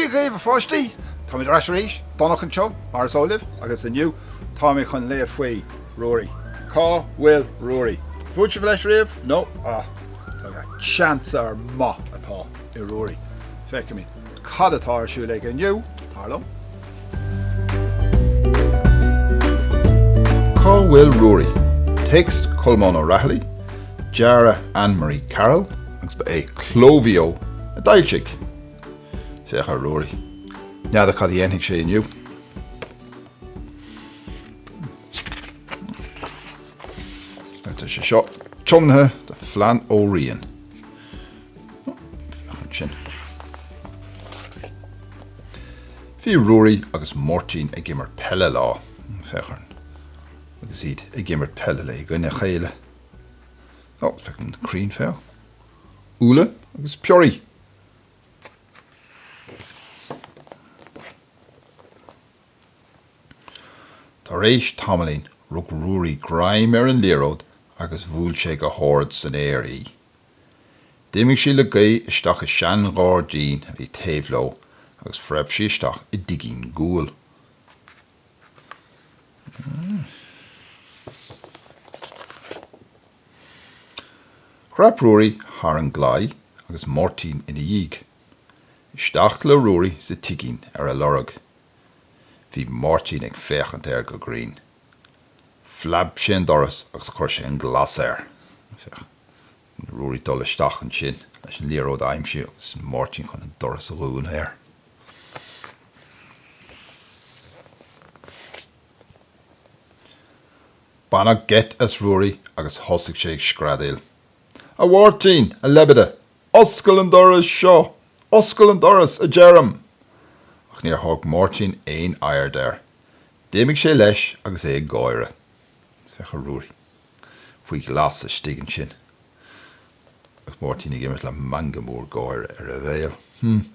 Dia dhaoibh a pháistí! Táimid ar ais arís, Donncha anseo, mar is eol daoibh, agus inniu táimid chun léamh faoi Ruairí. Cá bhfuil Ruairí? Bhuail sibh leis riamh, nó, ah, cén sórt maith atá i Ruairí. Feicfimid. Cad atá ar siúl aige inniu? Tar liom. Cá bhfuil Ruairí? Téacs Colmán Ó Raghallaigh, dearadh Anne Marie Carroll agus ba é Cló Mhaigh Eo a d'fhoilsigh. Féach ar Ruairí. N'fheadar cad a dhéanfaidh sé inniu. Tá sé seo tiomnaithe do Fhlann Ó Riain. ansin. Bhí Ruairí agus Máirtín ag imirt peile lá. Féach orthu agus iad ag imirt peile le... i gcoinne a chéile. Ó, féach an crann féach. Úlla agus piorraí. Tar éis tamaillín rug Ruairí greim ar an liathróid agus bhuail sé go hard san aer í. D'imigh sí le gaoth isteach i seanghairdín a bhí taobh leo agus phreab sí isteach i dtigín guail. Dhreap Ruairí thar an gclaí agus Máirtín ina dhiaidh. Isteach le Ruairí sa tigín ar a lorg. Bhí Máirtín ag féachaint air go grinn. Phlab sé an doras agus chuir sé an glas air. Féach. Ruairí ag dul isteach ansin leis an liathróid a aimsiú agus Máirtín chun an doras a dhúnadh air. Baineadh geit as Ruairí agus thosaigh sé ag screadaíl, A Mháirtín, a leibide, oscail an doras seo! Oscail an doras, a deirim! Ach níor thug Máirtín aon aird air. D'imigh sé leis agus é ag gáire. Féach ar Ruairí faoi ghlas istigh ansin agus Máirtín ag imeacht le meangadh mór gáire ar a bhéal. Hm.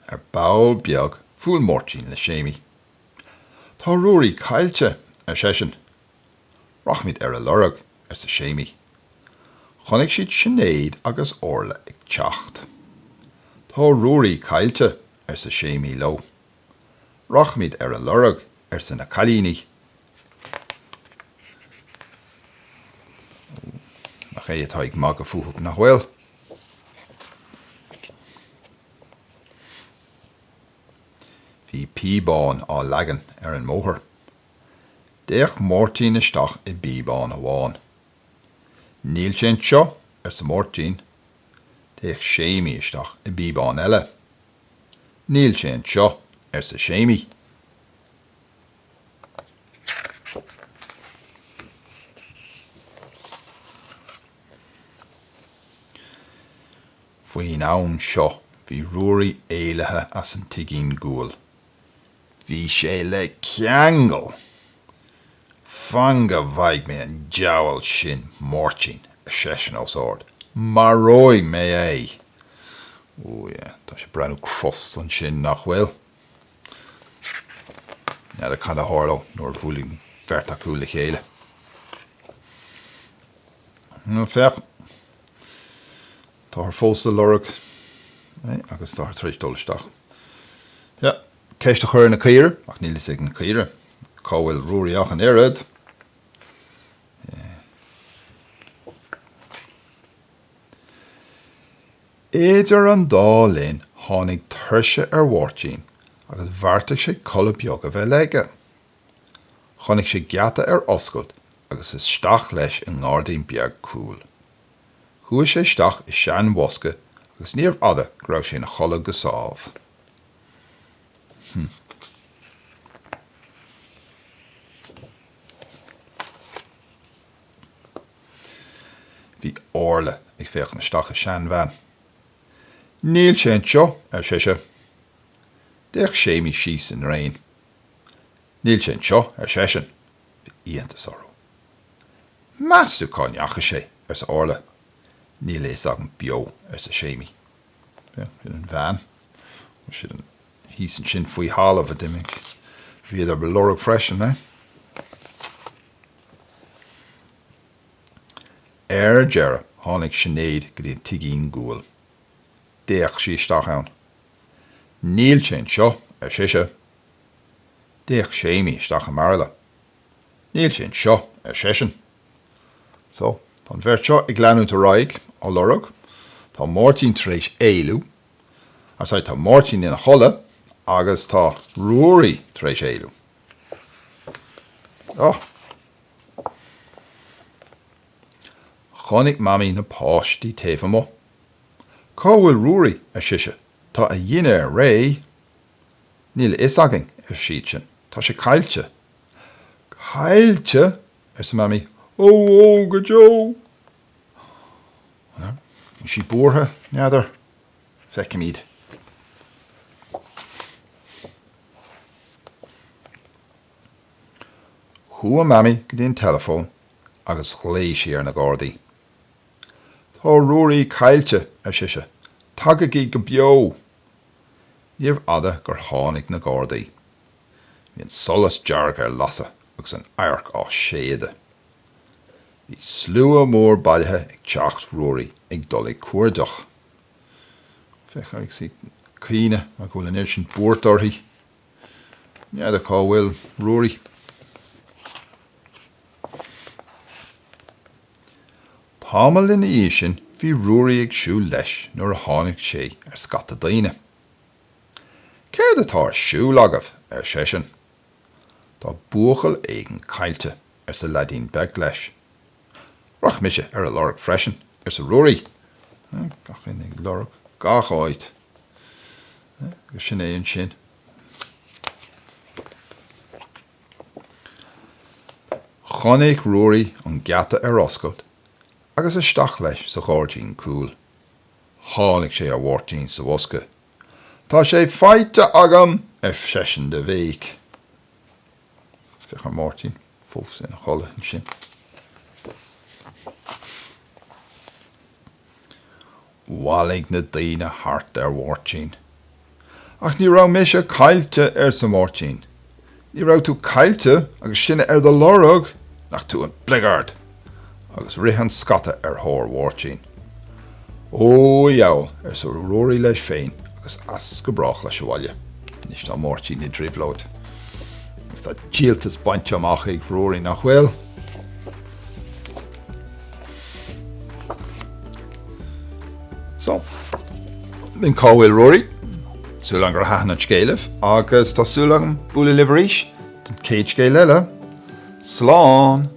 Ar ball beag bhuail Máirtín le Séimí. Tá Ruairí caillte, ar seisean. Rachaimid ar a lorg, arsa Séimí. Chonaic siad Sinéad agus Orla ag teacht. Tá Ruairí caillte, arsa Séimí leo. Rachaimid ar a lorg, arsa na cailíní. Ó, nach é atá ag magadh fúthu, nach bhfuil? Bhí píobáin á leagan ar an mbóthar D'fhéach Máirtín isteach i bpíobán amháin. Níl sé anseo, arsa Máirtín. D'fhéach Séimí isteach i bpíobán eile. Níl sé anseo, arsa Séimí. Faoin am seo bhí Ruairí éalaithe as an tigín guail. Bhí sé le ceangal. Fan go bhfaighidh mé an diabhal sin Máirtín, ar seisean os ard. Maróidh mé é! Ó, yeah, tá sé ag breathnú crosta ansin, nach bhfuil? N'fheadar cad a tharlóidh nuair a bhuailfidh an bheirt acu le chéile. Féach. Táthar fós á lorg é agus táthar tar éis dul isteach le ceist a chur ar na caoirigh ach níl a fhios ag na caoirigh cá bhfuil Ruairí ach an oiread. Idir an dá linn tháinig tuirse ar Mháirtín agus bheartaigh sé codladh beag a bheith aige. Chonaic sé geata ar oscailt agus isteach leis i ngairdín beag cúil. Chuaigh sé isteach i seanbhosca agus níorbh fhada go raibh sé ina chodladh go sámh. Bhí Orla ag féachaint isteach i seanveain. Níl sé anseo, ar sise. D'fhéach Séimí síos i ndraein. Níl sé anseo, ar seisean. iontas orthu. Meas tú cá ndeachaigh sé? arsa Orla. Níl a fhios agam beo, arsa Séimí. Sin an veain. Sin thíos ansin faoi thalamh a d'imigh. Bhíodar á lorg freisin é. Ar deireadh tháinig Sinéad go dtí an tigín guail. D'fhéach sí isteach ann. Níl sé anseo, ar sise. D'fhéach Séimí isteach i mbairille. Níl sin seo, ar seisean. So, tá an bheirt seo ag leanúint ar aghaidh á lorg. Tá Máirtín tar éis éalú. Ní hea, tá Máirtín ina chodladh agus tá Ruairí tar éis éalú. Oh! Chonaic Mamaí na páistí taobh amuigh. Cá bhfuil Ruairí? ar sise. Tá a dhinnéar réidh. Níl a fhios againn, ar siadsan. Tá sé caillte. Caillte? arsa Mamaí. Ó, ó, go deo! Bhí sí buartha, n'fheadar. Feicimid. Chuaigh Mamaí go dtí an teileafón agus ghlaoigh sí ar na Gardaí. Tá Ruairí caillte, ar sise. Tagaigí go beo! Níorbh fhada gur tháinig na Gardaí. Bhí an solas dearg ar lasadh agus an adharc á séideadh. Bhí slua mór bailithe ag teach Ruairí ag dul ag cuardach. Féach, í ag caoineadh, mar go bhfuil an oiread sin buairt uirthi. N'fheadar cá bhfuil Ruairí. Tamall ina dhiaidh sin bhí Ruairí ag siúl leis nuair a tháinig sé ar scata daoine. Céard atá ar siúl agaibh? ar seisean. Tá buachaill éigin caillte, arsa leaidín beag leis. Rachaidh mise ar a lorg freisin, arsa Ruairí. Ag lorg gach áit. Agus sin é ansin. Chonaic Ruairí an geata ar oscailt agus isteach leis sa ghairdín cúil. Tháinig sé ar Mháirtín sa bhosca. Tá sé faighte agam! ar seisean de bhéic. Féach ar Mháirtín fós ina chodladh ansin. Bhailigh na daoine thart ar Mháirtín. Ach ní raibh mise caillte, arsa Máirtín. Ní raibh tú caillte agus sinne ar do lorg! Nach tú an bligeard! agus rith an scata ar thóir Mháirtín. Ó, a dheabhal, arsa Ruairí leis féin agus as go brách leis abhaile. Anois tá Máirtín i dtrioblóid agus tá díoltas bainte amach ag Ruairí, nach bhfuil? So, sin cá bhfuil Ruairí? Súil agam gur thaitin an scéal libh agus tá súil agam bualadh libh arís don chéad scéal eile. Slán!